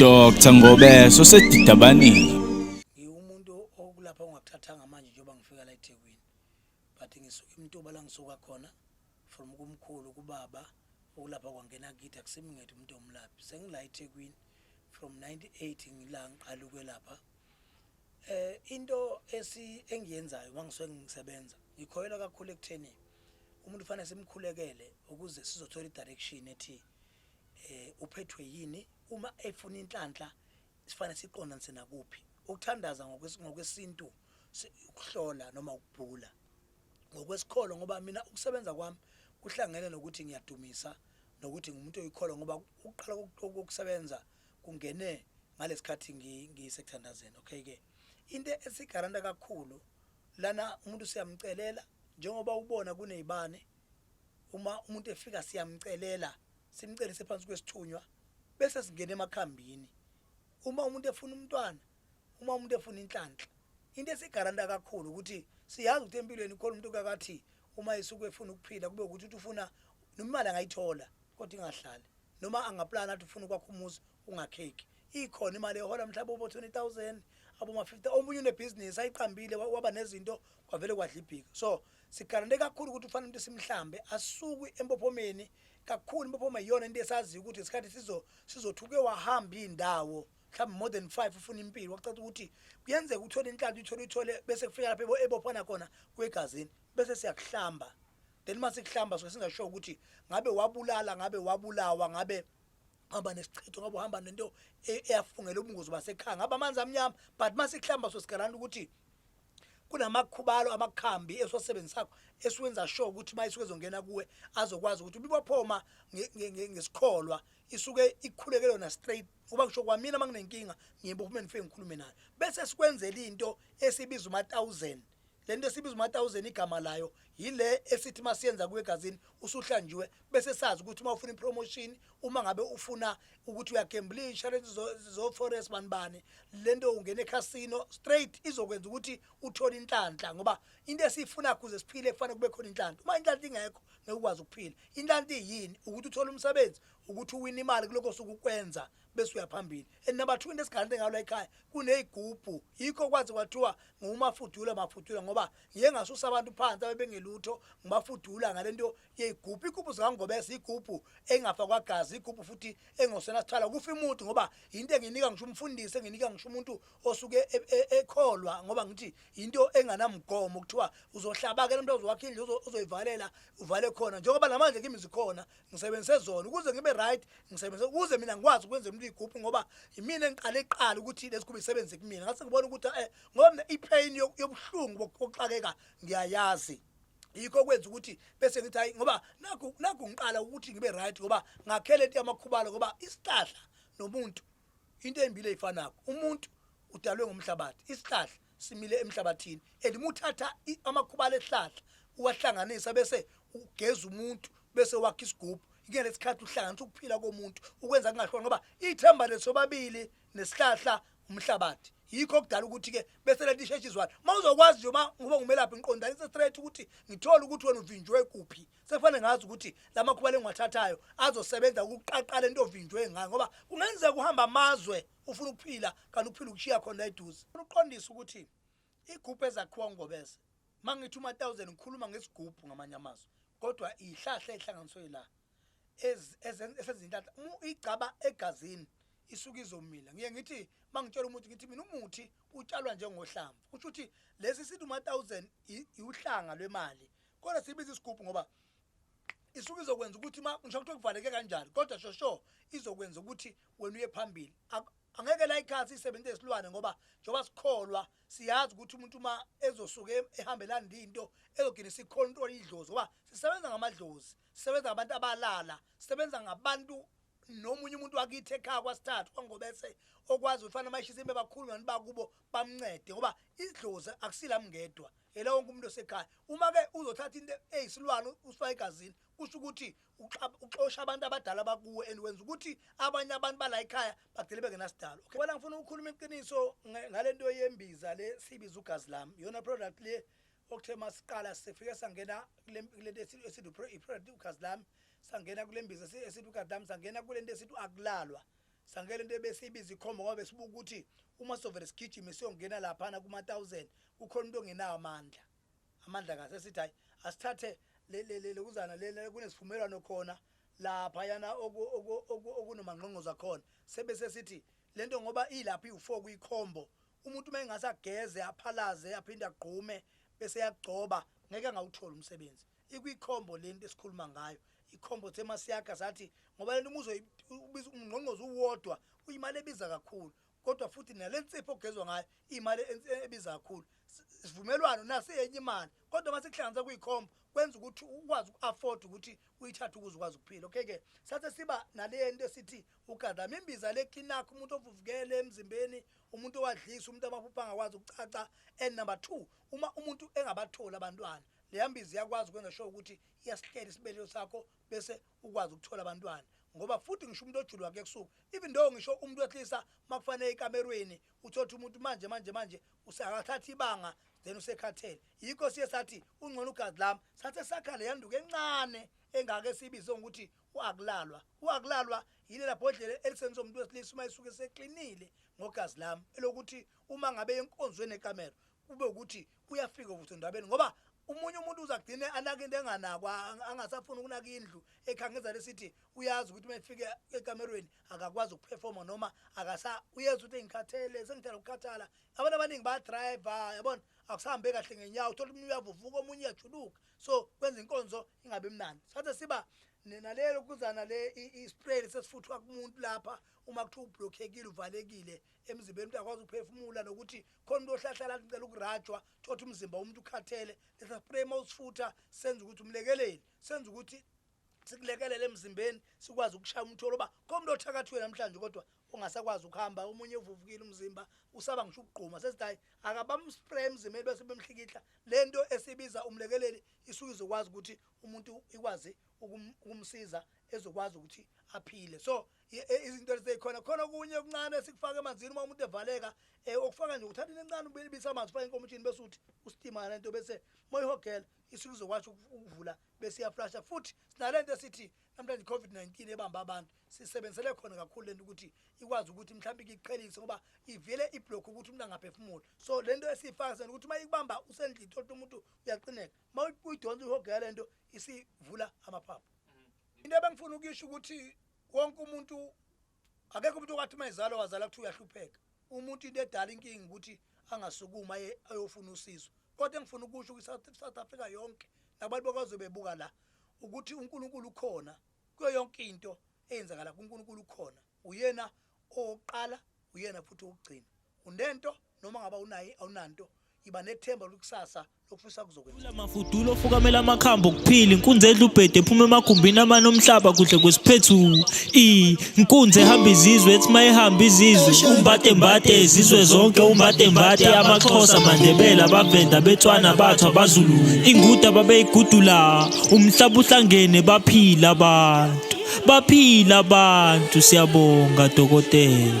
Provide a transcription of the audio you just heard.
Dr Ngobeso sedidabanile ngiwumuntu okulapha ongakuthathanga manje njengoba ngifika la eThekwini but ngisuka imtuba la ngisuka khona from kumkhulu kubaba ukulapha kwangena kithi akusimngethi umuntu omlaphi sengila eThekwini from 98 ngila ngiqala ukwelapha Eh into esi engiyenzayo mangisuke ngisebenza ngikhoyela kakhulu ekutheni umuntu fanele simkhulekele ukuze sizothola idirection ethi eh uphethwe yini uma efuna inhlanhla sifanele siqondanise nakuphi ukuthandaza ngokwesintu ukuhlola noma ukubhula ngokwesikholo ngoba mina ukusebenza kwami kuhlangene nokuthi ngiyadumisa nokuthi ngumuntu oyikholwa ngoba ukuqala kokusebenza kungene ngalesikhathi ngisekuthandazeni okay ke into esigaranta kakhulu lana umuntu siyamcelela njengoba ubona kunezibane uma umuntu efika siyamcelela simcelise phansi kwesithunywa bese singena emakhambini uma umuntu efuna umntwana uma umuntu efuna inhlanhla into esigaranta kakhulu ukuthi siyazi ukuthi empilweni khona umuntu kakathi uma esuke efuna ukuphila kube ukuthi uthi ufuna nomali angayithola kodwa ingahlali noma angaplana athi ufuna ukwakha umuzi ungakheki ikhona imali ehola mhlawumbe obo 20000 aboma 50 omunye unebhizinisi ayiqambile waba nezinto kwavele kwadla ibhika so sigarante kakhulu ukuthi ufanele umuntu simhlambe asukwe empophomeni kakhulu impophoma iyona into esaziyo ukuthi isikhathi sizo sizothuke wahamba indawo mhlawumbe more than five ufuna impilo kwacaca ukuthi kuyenzeka uthole inhlanhla uthole uthole bese kufika lapho ebophana khona kwegazini bese siyakuhlamba then uma sikuhlamba suke singasho ukuthi ngabe wabulala ngabe wabulawa ngabe hamba nesichitho ngabe uhamba nento e-, eyafungela ubungozi basekhaya ngabe amanzi amnyama but uma sikuhlamba so sigalanda ukuthi kunamakhubalo amakhambi esiwasebenzisakho esiwenza sure ukuthi uma isuke ezongena kuwe azokwazi ukuthi ubibophoma ngesikholwa isuke ikhuleke lona straight ngoba kusho kwamina uma nginenkinga ngiba uhulumeni ngifike ngikhulume naye bese sikwenzela into esibiza uma-thousand le nto esibiza uma-thousand igama layo yile esithi uma siyenza kuwegazini usuhlanjiwe bese sazi ukuthi uma ufuna ipromotion uma ngabe ufuna ukuthi uyagemblisha lento zo-forest bani bani le nto ungena ecasino straight izokwenza ukuthi uthole inhlanhla ngoba into esiyifuna kuze siphile kufanele kube khona inhlanhla uma inhlanhla ingekho ngeke ukwazi ukuphila inhlanhla iyini ukuthi uthole umsebenzi ukuthi uwina imali kulokho suku kwenza bese uyaphambili and number 2 into esigalele ngayo la ekhaya kunezigubhu yikho kwazi kwathiwa ngumafudula mafudula ngoba ngiye ngasusa abantu phansi abebengelutho ngibafudula ngalento yezigubhu igubhu zikangobese igubhu engafa kwagazi igubhu futhi engosena sithala kufa imuntu ngoba into enginika ngisho umfundisi enginika ngisho umuntu osuke e, e, ekholwa ngoba ngithi into enganamgomo kuthiwa uzohlabakela umuntu ozowakhe indlu uzoyivalela uvale khona njengoba namanje kimi zikhona ngisebenzise zona ukuze ngibe right ngisebenzise ukuze mina ngikwazi ukwenza umuntu igubhu ngoba yimina engiqale iqala ukuthi lesigubhu isebenze kumina ngase ngibona ukuthi eh ngoba mina ipain yobuhlungu bokuxakeka ngiyayazi yikho kwenza ukuthi bese ngithi hayi ngoba nakho nakho ngiqala ukuthi ngibe right ngoba ngakhele into yamakhubalo ngoba isihlahla nomuntu into embile ifanako umuntu udalwe ngomhlabathi isihlahla simile emhlabathini and muthatha amakhubala ehlahla uwahlanganisa bese ugeza umuntu bese wakha isigubhu ngeke lesikhathi uhlanganisa ukuphila komuntu ukwenza kungahloni ngoba ithemba lesobabili nesihlahla umhlabathi yikho okudala ukuthi ke bese lento isheshe izwana uma uzokwazi nje uma ngoba ngumelaphi ngiqondanise straight ukuthi ngithole ukuthi wena uvinjwe kuphi sefane ngazi ukuthi la makhuba lengiwathathayo azosebenza ukuqaqala into ovinjwe ngayo ngoba kungenzeka uhamba amazwe ufuna ukuphila kanti uphila ukushiya khona la eduze ufuna uqondisa ukuthi igubhu ezakhiwa ngobese uma ngithi uma-thousand ngikhuluma ngesigubhu ngamanye amazwi kodwa iyihlahla eyihlanganiswe la esezintatha igcaba egazini isuke izomila ngiye ngithi uma ngitshela umuthi ngithi mina umuthi utshalwa njengohlamvu kusho ukuthi lesi sithi uma-thousand iwuhlanga lwemali kodwa sibiza isigubhu ngoba isuke izokwenza ukuthi uma ngisho kuthiwa kuvaleke kanjani kodwa shosho izokwenza ukuthi wena uye phambili angeke la ikhaya siyisebenzise isilwane ngoba njengoba sikholwa siyazi ukuthi umuntu uma ezosuke ehambelani linto ezogcina sikhontrola idlozi ngoba sisebenza ngamadlozi sisebenza ngabantu abalala sisebenza ngabantu nomunye umuntu wakithi ekhaya kwasithathu kwangobese okwazi ukuthi fanele mayishisa imbe bakhulu ngani bakubo bamncede ngoba idlozi akusila mngedwa yena wonke umuntu osekhaya uma-ke uzothatha into eyisilwane usifake egazini kusho ukuthi uxosha abantu abadala bakuwe and wenza ukuthi abanye abantu bala ekhaya bagcine bengenasidalo okay wena ngifuna ukukhuluma iqiniso ngalento yembiza le sibiza ugazi lami yona product le okuthe masiqala sifike sangena kulento esithi i-product ugazi lami sangena kule mbiza esithi ugazi lami sangena kule nto esithi akulalwa sangele into ebesiyibiza ikhomba ngoba besibuka ukuthi uma sovele sigijime siyongena laphana kuma-thousand kukhona into ongenawo amandla Amandla kahle esithi hayi asithathe lokuzana lena kunesivumelwano khona lapha yana okunomangqongqoza khona sebese sithi lento ngoba ilapha iwu4 kuyikhombo umuntu uma engase ageze aphalaze aphinde agqume bese yagcoba ngeke angawuthola umsebenzi ikwikhombo lento esikhuluma ngayo ikhombo thema siyakha sathi ngoba lento umuzo ubiza umngqongqozo uwodwa uyimali ebiza kakhulu Kodwa futhi nale nsipho okugezwa ngayo imali ebiza kakhulu. Isivumelwano naso iyenye imali kodwa uma sikuhlanganisa kuyikhombo kwenza ukuthi ukwazi uku-afford ukuthi uyithathe ukuze ukwazi ukuphila okay ke sathe siba nale nto esithi ugadama imbiza le kinakho umuntu ovuvukele emzimbeni umuntu owadlisa umuntu amaphupha angakwazi ukucaca and number two uma umuntu engabatholi abantwana leya mbiza iyakwazi ukwenza sure ukuthi iyasihlela isibelelo sakho bese ukwazi ukuthola abantwana ngoba futhi ngisho umuntu ojulwa kuyekusukwa even though ngisho umuntu wehlisa makufanele ekamerweni uthotha umuntu manje manje manje usakathatha ibanga then usekhathele yikho siye sathi ungcono ugazi lami sathe sakhale yanduke encane engake sibize ngokuthi uakulalwa uakulalwa yilela bhodlela elisenza umuntu wesilisa uma esuke seklinile ngogazi lami elokuthi uma ngabe enkonzweni ekamero kube ukuthi uyafika ukuthi ndabeni ngoba umunye umuntu uzagcine anaka into enganakwa angasafuni ukunaka indlu ekhangeza lesithi uyazi ukuthi mefike ekamerweni akakwazi ukuperforma noma akasa uyenza ukuthi ngikhathele sengithanda ukukhathala abantu abaningi ba driver yabona akusahambe kahle ngenyawo uthola umuntu uyavuvuka omunye uyajuluka so kwenza inkonzo ingabe mnandi sathe siba nalelo kuzana le ispray sesifuthwa kumuntu lapha uma kuthiwa ublockekile uvalekile emzimbeni umuntu akwazi ukuphefumula nokuthi khona umuntu ohlahlala athi ngicela ukurajwa thothi umzimba womuntu ukhathele letha spray mawusifutha senza ukuthi umlekeleli senza ukuthi sikulekelele emzimbeni sikwazi ukushaya umtholo uba komuntu othakathiwe namhlanje kodwa ungasakwazi ukuhamba omunye uvuvukile umzimba usaba ngisho ukugquma sesithi hayi akabamspray emzimbeni bese bemhlikihla le nto esibiza umlekeleli isuke izokwazi ukuthi umuntu ikwazi ukumsiza ezokwazi ukuthi aphile so izinto eziseyikhona khona okunye okuncane esikufaka emanzini uma umuntu evaleka um okufaka nje uthatha into encane ubisa amanzi ufake enkomishini bese uthi usitima le nto bese uma uyihogela isuke izokwazi ukuvula bese iyaflasha futhi sinale nto esithi namhlanje i-covid-19 ebamba abantu sisebenzisele khona kakhulu le nto ukuthi ikwazi ukuthi mhlawumbe ikiqhelise ngoba ivele iblokhe ukuthi umuntu angaphefumuli so le nto esiyifaka sena ukuthi uma ikubamba usendlini thola umuntu uyaqineka uma uyidonsa uyihogela le nto isivula amaphaphu into ebengifuna ukuyisho ukuthi wonke umuntu akekho umuntu okwathi uma ezalwa wazala kuthiwa uyahlupheka umuntu into edala inkinga ukuthi angasukuma ayofuna usizo kodwa engifuna ukusho kwi-south africa yonke nabantu bakwazi bebuka la ukuthi unkulunkulu ukhona kuyo yonke into eyenzakala kunkulunkulu ukhona uyena Owokuqala uyena futhi owokugcina. Unento noma ngabe awunayo awunanto, yiba nethemba lwekusasa lokufisa kuzokwenzeka. Thula Mafudulo ofukamela amakhambi okuphila inkunzi edla ubhedu ephuma emagumbini amane omhlaba kuhle kwesiphethu i inkunzi ehamba izizwe ethi mayehamba izizwe umbade mbade izizwe zonke umbade mbade amaxhosa amandebela abavenda abetswana abathu abazulu inguda babeyigudula umhlaba uhlangene baphila abantu baphila abantu siyabonga dokotela